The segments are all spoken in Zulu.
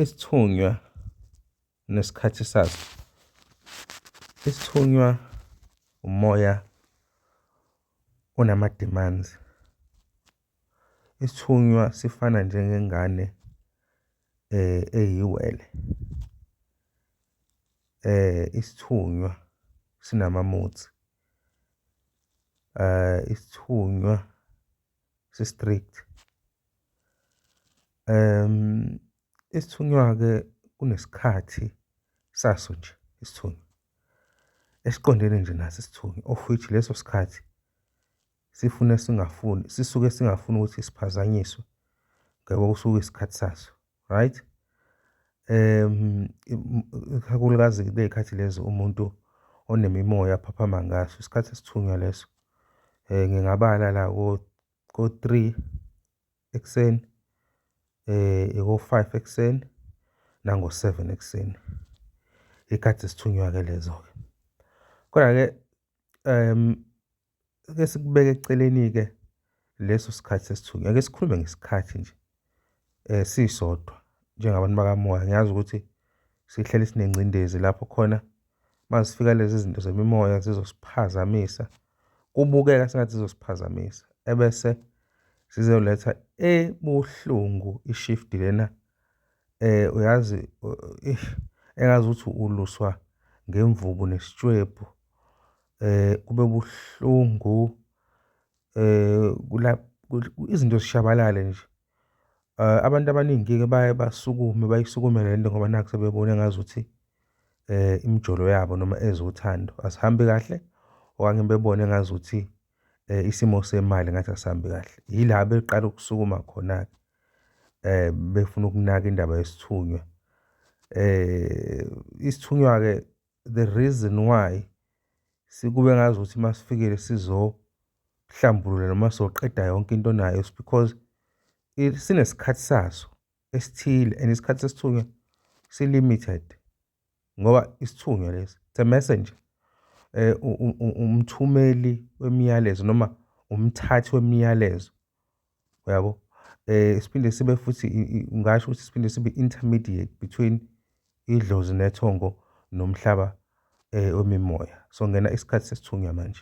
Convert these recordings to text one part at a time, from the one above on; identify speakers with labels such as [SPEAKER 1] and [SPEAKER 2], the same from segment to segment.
[SPEAKER 1] Isithunywa nesikhathi saso. Isithunywa umoya onama-demands. Isithunywa sifana njengengane eyiwele. Isithunywa sinama-moods. Isithunywa. si-strict. Isithunywa-ke kunesikhathi saso nje isithunywa esiqondene nje naso isithunywa of which leso sikhathi sifune singafuni, sisuke singafuni ukuthi siphazanyiswe ngoba kusuke kuyisikhathi saso. right? Ikakhulukazi kuley'khathi lezi umuntu onemimoya aphaphama ngaso, isikhathi esithunywa leso. Ngingabala la ko-three ekuseni, ko-five ekuseni, nango-seven ekuseni. Iy'khathi zesithunywa-ke lezo-ke. Kodwa-ke Ake sikubeke eceleni-ke leso sikhathi sesithunywa, ake sikhulume ngesikhathi nje sisodwa njengabantu bakamoya. Ngiyazi ukuthi sihleli sinengcindezi lapho khona uma zifika lezi zinto zemimoya zizosiphazamisa, kubukeka sengathi zizosiphazamisa ebese sizoletha ebuhlungu i-shift lena uyazi eish engazuthi uluswa ngemvubu nesitshwebhu. Kube buhlungu izinto zishabalale nje. Abantu abaningi-ke baye basukume bayisukumele le nto ngoba nakhu sebebona engazuthi imijolo yabo noma ezothando azihambi kahle okanye bebone engazuthi eh, isimo semali ngathi asihambi kahle yila beqala ukusukuma khona-ke eh befuna ukunaka indaba yesithunywa eh isithunywa-ke the reason why sikube ngazi ukuthi uma sifikile sizohlambulula noma sizoqeda yonke into nayo is because sinesikhathi saso esithile and isikhathi sesithunywa si-limited ngoba isithunywa lesi it's a messenger umthumeli wemiyalezo noma umthathi wemiyalezo uyabo siphinde sibe futhi ngasho ukuthi siphinde sibe intermediate between idlozi nethongo nomhlaba wemimoya so ngena isikhathi sesithunywa manje.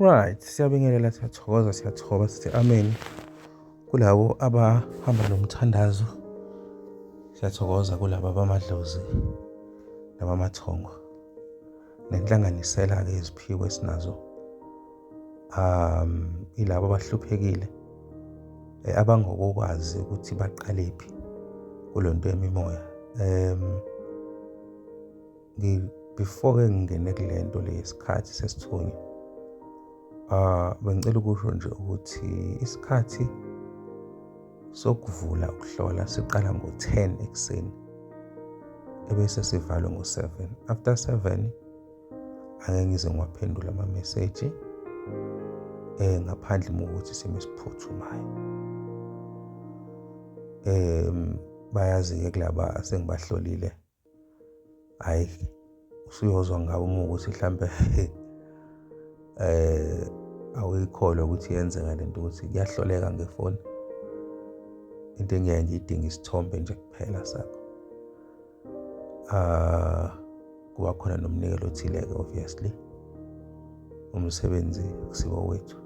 [SPEAKER 1] Right, siyabingelela siyathokoza siyathoba sithi amen kulabo abahamba nomthandazo siyathokoza kulabo abamadlozi nabamathongo nenhlanganisela-ke iziphiwo esinazo um ilabo abahluphekile eh, abangokokwazi ukuthi baqalephi kulonto yemimoya um before ke ngingene kule nto le isikhathi sesithunywa uh, bengicela ukusho nje ukuthi isikhathi sokuvula ukuhlola siqala ngo-10 ekuseni ebese sivalwe ngo-7 after 7 angeke ngize ngiwaphendula amameseji eh ngaphandle mokuthi isimo esiphuthumayo em bayazi-ke kulaba sengibahlolile hhayi usuyozwa ngawo uma ukuthi mhlampe eh awuyikholwa ukuthi yenzeka le nto ukuthi kuyahloleka ngefoni into engiyaye ngiyidinga isithombe nje kuphela sakho ah kuba khona nomnikelo othile-ke obviously umsebenzi kusiwo wethu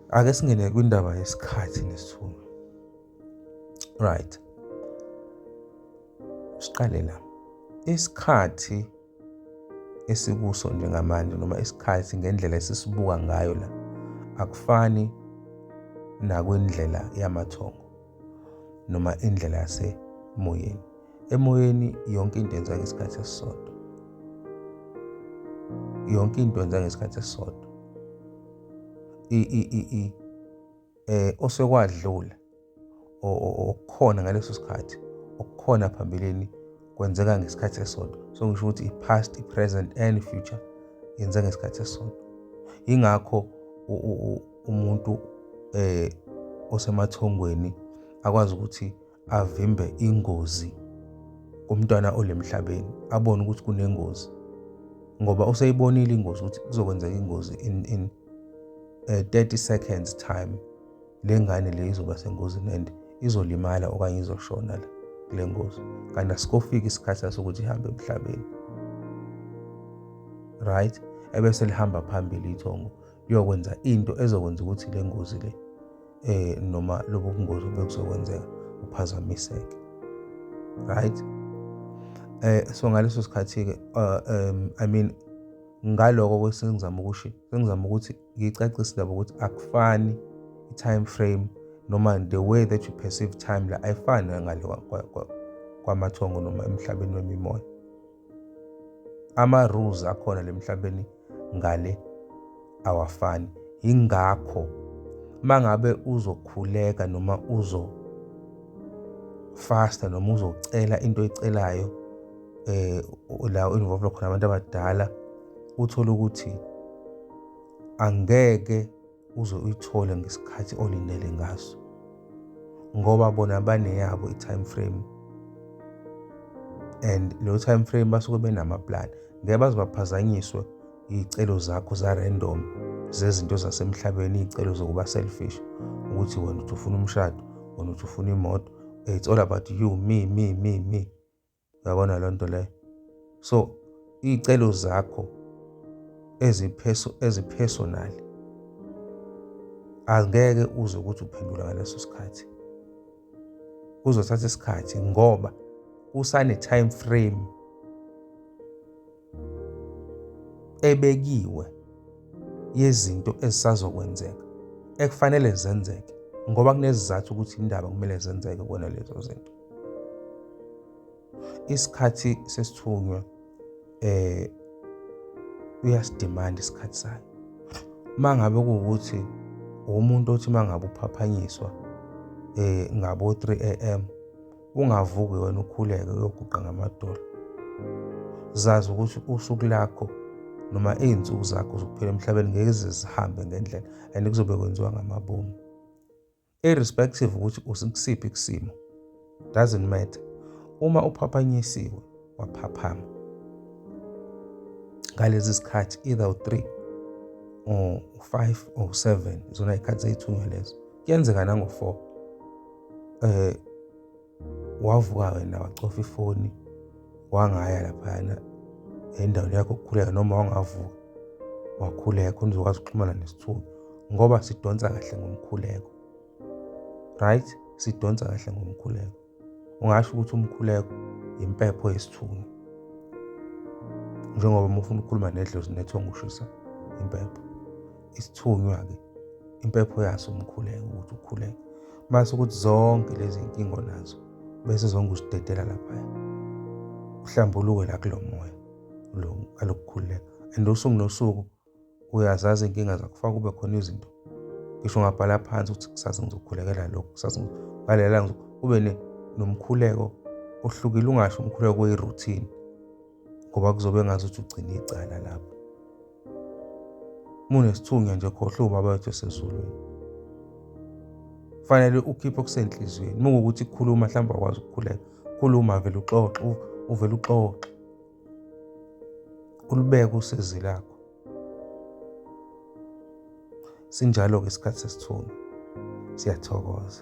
[SPEAKER 1] ake singene kwindaba yesikhathi nesithunywa right siqale la isikhathi esikuso njengamanje noma isikhathi ngendlela esisibuka ngayo la akufani nakwindlela yamathongo noma indlela yasemoyeni emoyeni yonke into yenza ngesikhathi esisodwa yonke into yenza ngesikhathi esisodwa i i i eh osekwadlula okukhona ngaleso sikhathi okukhona phambilini kwenzeka ngesikhathi esisodwa so ngisho ukuthi i-past i-present and future yenza ngesikhathi esisodwa ingakho umuntu eh osemathongweni akwazi ukuthi avimbe ingozi kumntwana olemhlabeni abone ukuthi kunengozi ngoba useyibonile ingozi ukuthi kuzokwenzeka ingozi in in uh, eh, 30 seconds time lengane le izoba sengozini and izolimala okanye izoshona la kule ngozi kanti asikofiki isikhathi sokuthi ihambe emhlabeni right ebese lihamba phambili ithongo liyokwenza into ezokwenza ukuthi le ngozi le eh noma lobo bungozi obekuzokwenzeka uphazamiseke right eh so ngaleso sikhathi ke uh, um i mean ngaloko kwesengizama ukuthi sengizama ukuthi ngicacise labo ukuthi akufani i-time frame noma the way that you perceive time la ayifani ngale kwamathongo noma emhlabeni wemimoya ama-rules akhona le mhlabeni ngale awafani yingakho mangabe uzokhuleka noma uzo fasta noma uzocela into oyicelayo eh la involve khona abantu abadala uthole ukuthi angeke uze uyithole ngesikhathi olindele ngaso ngoba bona baneyabo i-time frame and leyo time frame basuke benamaplan ngeke baze baphazanyiswe iy'celo zakho za-random zezinto zasemhlabeni iy'celo zokuba selfish ukuthi wena uthi ufuna umshado wena uthi ufuna imoto it's all about you me me me me Uyabona leyo nto leyo. So iy'celo zakho ezipersonal angeke uze ukuthi uphendula ngaleso sikhathi. Kuzothatha isikhathi ngoba kusane-time frame. ebekiwe yezinto ezisazokwenzeka ekufanele zenzeke ngoba kunezizathu ukuthi indaba kumele zenzeke kona lezo zinto isikhathi sesithunywa eh uyasidemand isikhathi sakhe mangabe kuwukuthi umuntu othi mangabe uphaphanyiswa eh ngabo 3 am ungavuki wena ukhuleke uyoguqa ngamadolo zazi ukuthi usuku lakho noma iy'nsuku zakho zokuphila emhlabeni ngeke zizihambe ngendlela and kuzobe kwenziwa ngamabomu irrespective ukuthi usikusiphi kusimo doesn't matter uma uphaphanyisiwe waphaphama ngalezi zikhathi either u-3 or u-5 or u-7 izona ikhathi zeyithunywa lezo kuyenzeka nango-4 eh wavuka wena wacofa ifoni wangaya laphayana endaweni yakho ukukhuleka noma wangavuka wakhuleka unizokwazi ukuxhumana nesithunywa ngoba sidonsa kahle ngomkhuleko right sidonsa kahle ngomkhuleko ungasho ukuthi umkhuleko impepho yesithunywa njengoba uma ufuna ukukhuluma nedlozi nethonga ushisa impepho isithunywa-ke impepho yaso umkhuleko ukuthi ukhuleke mase ukuthi zonke lezi nkinga onazo bese zonke usidedela laphaya uhlambuluke la kulo moya lo alokukhululeka and usuku nosuku uyazazi inkinga zakho faka kube khona izinto ngisho ngabhala phansi ukuthi kusasa ngizokhulekela lokhu kusasa ngalela kube nomkhuleko ohlukile ungasho umkhuleko oyi-routine ngoba kuzobe ngazuthi ugcina icala lapho munesithunywa nje khohle ubaba wethu esezulwini fanele ukhiphe okusenhliziyweni mukukuthi khuluma mhlawumbe akwazi ukukhuleka khuluma vele uxoxe uvele uxoxe ulubeke usizi lakho sinjalo-ke isikhathi sesithungo siyathokoza